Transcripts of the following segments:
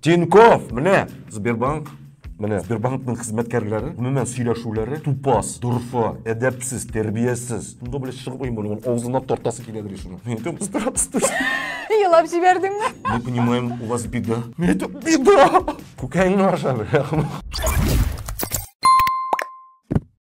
Тиньков, менә Сбербанк Менә Сбербанкның хезмәткәрләре гомумән сөйләшүләре тупас, дорфа, әдәпсез, тәрбиясез. Шунда белән чыгып уймый, ул авызына тартасы килә белә шуны. Мин әйтәм, здравствуйте. Елап җибәрдеңме? Мы понимаем, у вас беда. Мин әйтәм, беда! Күкәеңне ашады.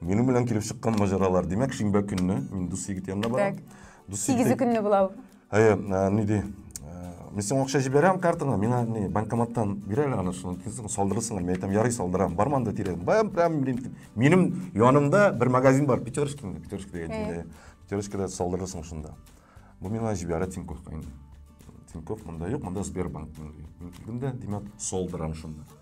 Минем белән килеп чыккан маҗаралар. Димәк, шимбә көнне мин дус егет янына барам. Дус егет. Сигезе көнне була ул. Әйе, ни ди? Мин сиңа акча җибәрәм картаңа, миңа ни банкоматтан бир әле аны, шуны килсен, салдырырсың әле. Мин әйтәм, ярый, салдырам. Бармы анда тирә? Баям, прям минем янымда бер магазин бар, Пятерочка, Пятерочка дигән. Пятерочкада салдырырсың шунда. Бу миңа җибәрә Тинькоффка инде. Тинькофф монда юк, монда Сбербанк. Мин килдем дә, димәк, салдырам шунда.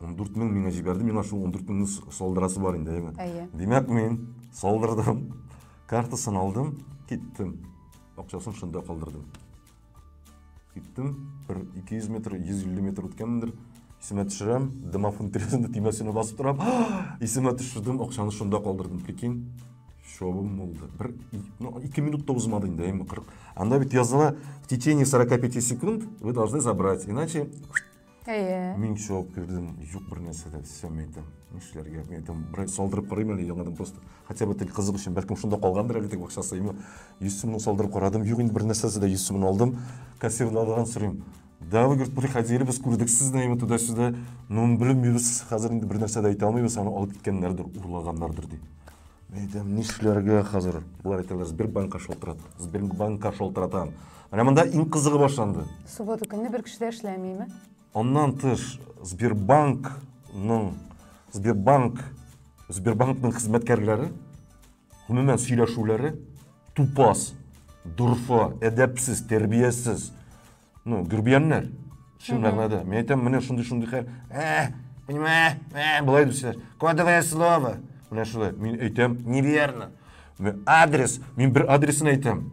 14 мең миңа җибәрде, миңа шул 14 меңне салдырасы бар инде, әйеме? Әйе. Димәк, мин салдырдым, картасын алдым, киттем. Акчасын шунда калдырдым. Киттем, бер 200 метр, 150 метр үткәнмендер, исемә төшерәм, домофон тирәсендә тимәсенә басып торам, исемә төшердем, акчаны шунда калдырдым, прикинь. Шовым булды. Бер, ну, ике минут та узмады инде, әйеме, 40. Анда бит языла, в течение 45 секунд вы должны забрать, иначе Әйе. Мин шок кердем, юк бер нәрсә дә эшләмәй идем. Нишләргә? Мин әйтәм, бер салдырып карыйм әле яңадан просто. Хотя бы тел кызык өчен, бәлкем шунда калгандыр әле теге акчасы. Именно 100 сумны салдырып карадым. Юк, инде бер нәрсәсе дә 100 сумны алдым. Кассирдагыдан сорыйм. Да, вы, говорит, приходили, без күрдек сезне, именно туда-сюда. Ну, белмибез, хәзер инде бер нәрсә дә әйтә алмыйбыз, аны алып киткәннәрдер, урлаганнардыр ди. Әйдәм, нишләргә хәзер? Болар икәүләр Сбербанкка шалтырат. Сбербанкка шалтыратам. Менә монда иң кызыгы башланды. Суббота көнне бер кеше дә эшләмиме? Аннан тыш Сбербанкның Сбербанк Сбербанкның хезмәткәрләре гомумән сөйләшүләре тупас, дорфа, әдәпсез, тәрбиясез. ну гүрбияннәр шын мәгънәдә мин әйтәм менә шундый шундый хәл ә понимаешь ә былай дип сөйләр кодовое слово менә шулай мин әйтәм неверно адрес мин бер адресын әйтәм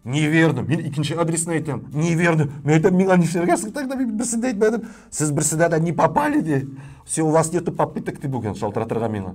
неверно мин икенче адресын әйтәм неверно мин әйтәм миңа нишләргә соң тогда мин берсен дә әйтмәдем сез берсенә дә не попали ди все у вас нету попыток ди бүген шалтыратырга миңа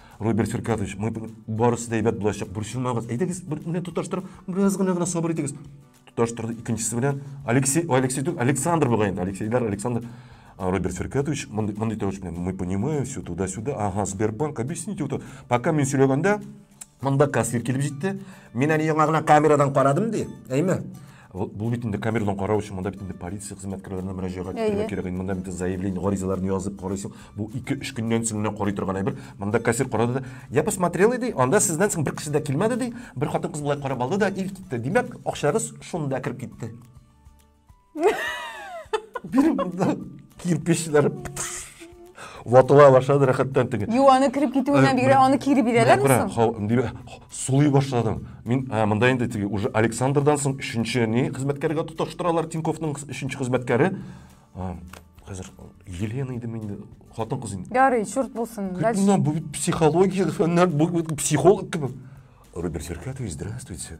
Роберт Феркатович, мы барысы да әйбәт булачак, борчылмагыз. Әйдәгез, бер менә тоташтырып, бераз гына гына сабыр итегез. Тоташтырды икенчесе белән. Алексей, Алексей түгел, Александр бугай инде. Алексейлар, Александр. Роберт Феркатович, мондый мондый тавыш белән, мы понимаем все туда-сюда. Ага, Сбербанк, объясните вот. Пока мин сөйләгәндә, монда кассир килеп җитте. Мин әле яңа гына камерадан карадым ди. Әйме? Бу бит инде камерадан карау өчен монда бит инде полиция хезмәткәрләренә мөрәҗәгать итәргә кирәк. Инде монда бит заявление, гаризаларны язып карыйсың. Бу 2-3 көннән соң гына карый торган әйбер. Монда кассир карады да, я посмотрел иде, анда сездән соң бер кеше дә килмәде ди. Бер хатын-кыз болай карап алды да ил китте. Димәк, акчагыз шунда кереп китте. Биреп монда кирпечләр. Ватыла башлады рәхәттән теге. Юк, аны кереп китүенә бигрә аны кире бирәләр мисың? Менә сулый башладым. Мин монда инде теге уже Александрдан соң өченче ни хезмәткәргә тоташтыралар Тиньковның өченче хезмәткәре. Хәзер Елена иде мин хатын кыз инде. Ярый, чурт булсын. Дальше. Бу психология фәннәр, бу психолог кебек. Роберт Серкатович, здравствуйте.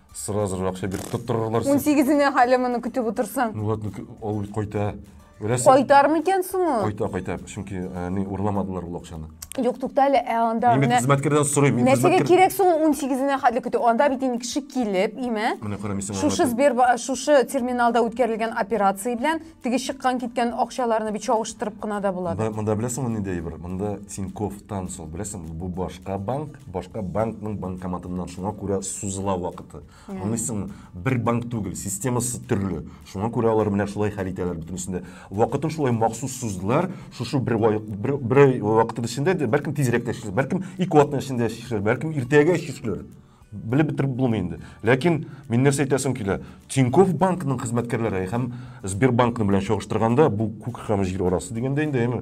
Сразу же акча биреп тоттырырлар. Ун сигезенә хәле моны көтеп утырсаң. Ну ладно, ул кайта. Беләсең? Кайтармы икән соң ул? Кайта, кайта. Чөнки э, ни урламадылар ул акчаны. Юк, тукта әле, ә анда Мин хезмәткәрдән сорыйм. Мин Нәрсәгә хезмәткәр... кирәк соң ул 18-нә хәтле көтү? Анда бит инде кеше килеп, име? Менә карамыйсың. Шушы Сбербанк, шушы терминалда үткәрелгән операция белән Теге чыккан киткән акчаларны бит чагыштырып кына да була. Монда, монда беләсеңме нинди әйбер? Монда Тиньков Тансол, беләсең, бу башка банк, башка банкның банкоматыннан шуңа күрә сузыла вакыты. Аңлыйсыңмы? Бер банк түгел, системасы төрле. Шуңа күрә алар менә шулай хәл итәләр бөтенесендә. Вакытын шулай махсус суздылар, шушы бер вай- бер, бер ай вакытын эчендә, дә, бәлкем тизрәк тә чишелер, бәлкем ике атна эчендә чишелер, бәлкем иртәгә чишелер. белеп бетереп булмый инде ләкин мин нәрсә әйтәсем килә тиньков банкының хезмәткәрләре һәм сбербанкны белән чагыштырганда бу күк һәм җир арасы дигәндә инде әйме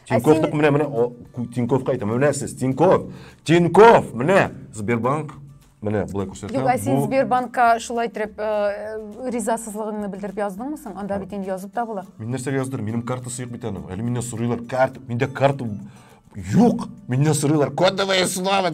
тиньковтык менә менә тиньковка әйтәм менә сез тиньков тиньков менә сбербанк менә былай күрсәтәм юк ә син сбербанкка шулай итеп э, ризасызлыгыңны белдереп яздыңмы соң анда бит инде язып та була мин нәрсәгә яздырдым минем картасы юк бит аның әле миннән сорыйлар карта миндә карта юк миннән сорыйлар кодовое слово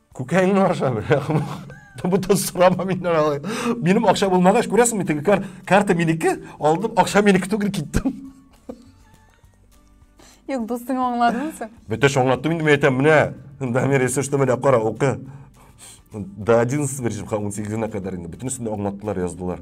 Күкәңне аша бер. Бу да сорама миннән алай. Минем акча булмагач, күрәсеңме, теге кар, карта минеке, алдым, акча минеке түгел киттем. Юк, дустың аңладыңмы син? Бөтәш аңлаттым инде, мин әйтәм, менә, Дамир, если что, менә кара, укы. До 11 беришем, 18-нә кадәр инде. Бөтенесен дә аңлаттылар, яздылар.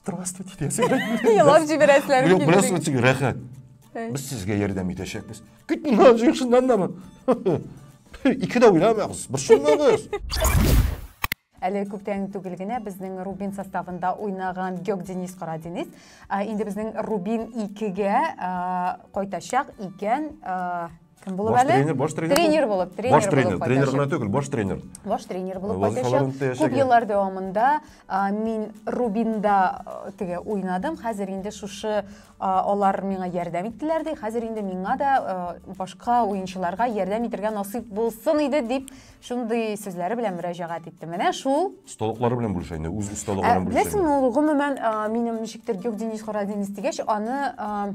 здравствуйте десе елап жиберәселәре килде бераз үтсек рәхәт без сезгә ярдәм итәчәкбез кит моннан җыйк шуннан да икедә уйламагыз бер шуннагыз әле күптән түгел генә безнең рубин составында уйнаган геок денис кара денис инде безнең рубин икегә кайтачак икән Кем булып Баш әле? тренер, баш тренер. Тренер булып, тренер Баш тренер, булып тренер кайтачак. гына түгел, баш тренер. Баш тренер булып Вазифаларын кайтачак. Күп үтәячәк. еллар дәвамында а, мин Рубинда а, теге уйнадым. Хәзер инде шушы а, алар миңа ярдәм иттеләр ди. Хәзер инде миңа да а, башка уенчыларга ярдәм итергә насыйп булсын иде дип шундый сүзләре белән мөрәҗәгать итте. Менә шул Осталыклары белән бүлешә инде, үз Ә, осталыкларын бүлешә. Беләсеңме, ул гомумән а, минем ничектер юк Денис Хорадинис дигәч, аны а,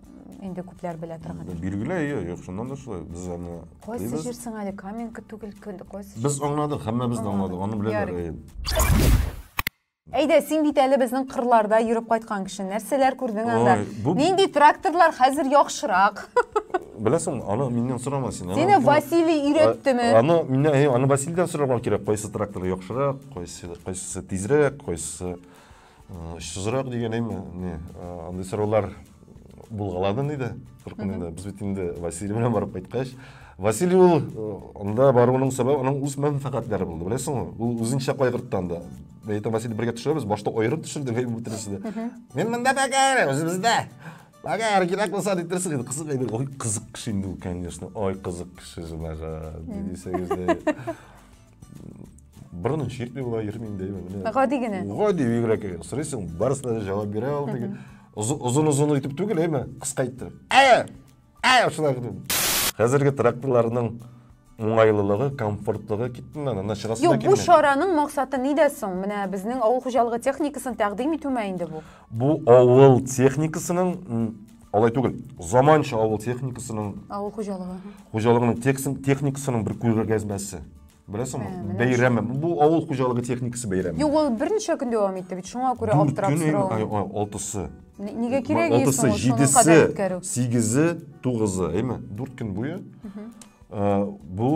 инде күпләр белә торган. Билгеле, әйе, юк, шуннан да шулай. Без аны Кайсы беләбез. җир соң әле Каменка түгел, көн- кайсы җир? Без аңладык, һәммәбез дә аңладык, аны беләләр. Ярый. әйе. Әйдә, син бит әле безнең кырларда йөреп кайткан кеше. Нәрсәләр күрдең анда? Ой, бу- Нинди тракторлар хәзер яхшырак? Беләсеңме, аны миннән сорама син. Аны- Сине аны- Василий А- өйрәттеме? Аны миннән, әйе, аны Василийдан сорарга кирәк, кайсы трактор яхшырак, кайсы кайсысы тизрәк, кайсысы Очсызрак дигән әйме, не, андый сораулар булгалады инде. Куркын инде. Без бит инде Василий белән барып кайткач, Василий ул анда баруының сәбәбе аның үз мәнфәгатьләре булды. Беләсеңме? Ул үзенчә кайгыртты анда. Мен әйтәм, Василий бергә төшәбез, башта аерып төшердек әйбер бетерсез дә. Мин монда бәгәр, үзебездә. Бәгәр кирәк булса дитерсез инде. Кызык әйбер. Ой, кызык кеше инде ул, конечно. Ой, кызык кеше, җанага. Дисәгез дә. бер генә чиртми була йөрми инде менә гади генә гади бигрәк сорыйсың барысына да җавап бирә ул теге озын озын итеп түгел әйме кыска иттереп ә ә шулай хәзерге тракторларның уңайлылыгы комфортлыгы киттеме ана чыгасы юк бу чараның максаты нидә соң менә безнең авыл хуҗалыгы техникасын тәкъдим итүме инде бу бу авыл техникасының Алай түгел. Заманча авыл техникасының авыл хуҗалыгы. Хуҗалыгының техникасының бер күргәзмәсе. Беләсеңме? Ә, бәйрәме. Бу авыл хуҗалыгы техникасы бәйрәме. Юк, ул берничә көн дәвам итте бит. Шуңа күрә аптырап соравым. Алтысы. Нигә кирәк исең? Алтысы, җидесе, сигезе, тугызы, әйме? Дүрт көн буе. Ә, бу,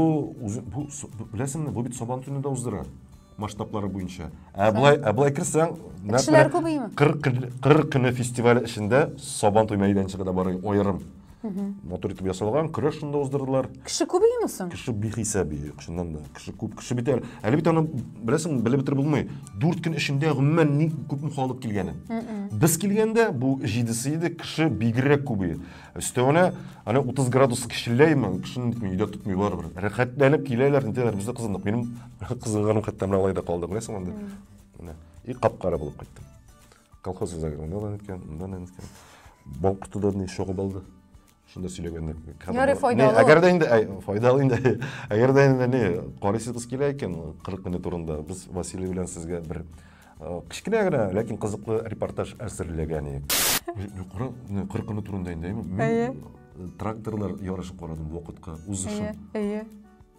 бу, беләсеңме, бу бит сабан төнендә уздыра. масштаблары буенча. Ә былай, ә былай керсәң, Кешеләр күбейме? 40 40 көне фестиваль эчендә Сабан туй мәйданчыгы да бар аерым. Матур итеп ясалган, көрәш шунда уздырдылар. Кеше күбейме соң? Кеше бихисап ие, чыннан да. Кеше күп, кеше бит әле. Әле бит аны беләсең, белеп бетереп булмый. 4 көн эчендә гомумән ни күпме халык килгәне. Без килгәндә бу 7-се иде, кеше бигрәк күбее. Өстәвенә, аны 30 градус кешеләйме, кешене нитми, өйдә тотмый барыбер. Рәхәтләнеп киләләр, нитәләр, без дә кызындык. Минем Кызылгырым хәтта менә алай да калды, беләсең анда. Менә. И кап-кара булып кайттым. Колхоз үзәге монда да иткән, монда да иткән. Бал кортыдан ни шогып алды. Шунда сөйләгәндә. Ярый, файдалы. Әгәр дә инде әй, файдалы инде. Әгәр дә инде ни, карыйсыз килә икән 40 минут турында без Василий белән сезгә бер э, кечкенә генә, ләкин кызыклы репортаж әзерләгән идек. Мин кара, менә 40 минут турында инде. Әйе. Мин тракторлар ярышын карадым вакытка узышын. Әйе, әйе.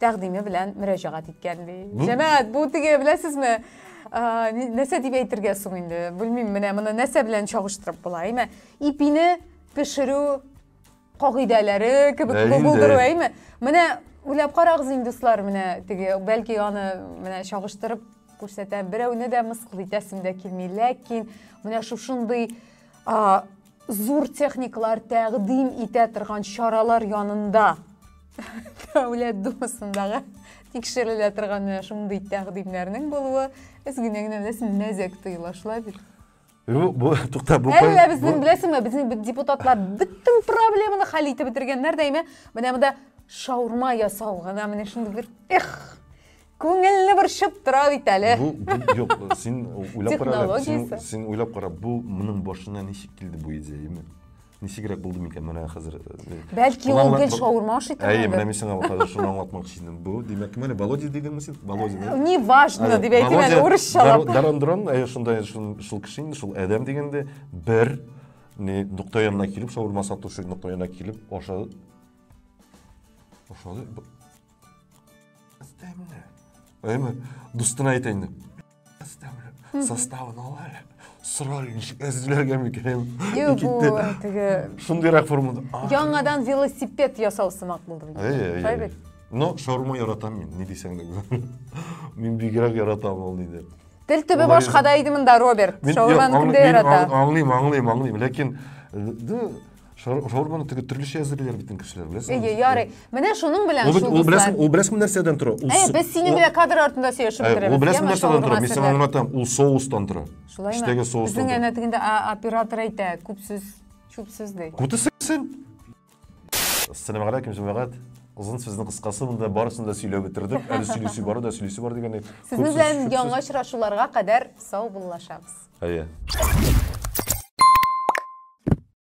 тәкъдиме белән мөрәҗәгать иткән ди. Җәмәгать, бу теге беләсезме? Нәрсә дип әйтергә соң инде? Белмим, менә моны нәрсә белән чагыштырып була, әйме? Ипине пешерү кагыйдәләре кебек булдыру, әйме? Менә уйлап карагыз инде, дуслар, менә теге, бәлки аны менә чагыштырып күрсәтәм. Берәүне дә мыскыл итәсем дә килми, ләкин менә шушындый Зур техникалар тәкъдим итә торган чаралар янында Дәүләт Думасындагы тикшерелә торган менә шундый тәкъдимнәрнең булуы үзгенә генә беләсең мәзәк тоела шулай бит Юк, бу тукта бу. Әллә безнең беләсеңме, безнең депутатлар бөтен проблеманы хәл итеп бетергәннәр дә әйме, менә монда шаурма ясау гына менә шундый бер эх. Күңелне борчып тора бит әле. Бу, бу юк, син уйлап кара. Технологиясе. Син, син уйлап кара, бу моның башына ничек килде бу идея, именно? Ничегрәк булды микән менә хәзер? Э, Бәлки ул гел шаурма ашый торган. Әйе, менә мин сиңа хәзер шуны аңлатмакчы идем. Бу, димәк, менә Володя дидеңме син? Володя. Э, не важно, дип әйтим әле урысчалап. Дарандрон, әйе, шундай шул кеше инде, шул адәм дигәндә бер не нокта янына килеп, шаурма сатучы нокта янына килеп, ашады. Ашады. Әйме, дустына әйтә инде. Составын ал әле. Сора ничек әзерләргә микән? Юк, бу теге шундыйрак формада. Яңадан велосипед ясау сымак булды. Шулай бит. Но шаурма яратам мин, ни дисәң дә. Мин бигрәк яратам ул диде. Тел төбе башкада иде монда, Роберт. Шаурманы кемдә ярата? Аңлыйм, аңлыйм, аңлыйм, ләкин Шаурманы теге төрлечә әзерлиләр бит кешеләр, беләсеңме? Әйе, ярый. Менә шуның белән шул дуслар. Ул беләсең, ул беләсең нәрсәдән тора? Ул Әйе, без синең белән кадр артында сөйләшеп бетерәбез. Ул беләсең нәрсәдән тора? Мин сиңа аңлатам, ул соустан тора. Шулаймы? Эчтәге соустан. Безнең әнә тегендә оператор әйтә, күп сүз, чүп сүз ди. Күтесексен. Ассаламу алейкум, җәмәгать. Озын сүзнең кыскасы монда барысын да сөйләп бетердек. Әле сөйлисе бар да, сөйлисе бар дигәндәй. Сезнең белән яңа очрашуларга кадәр сау буллашабыз. Әйе.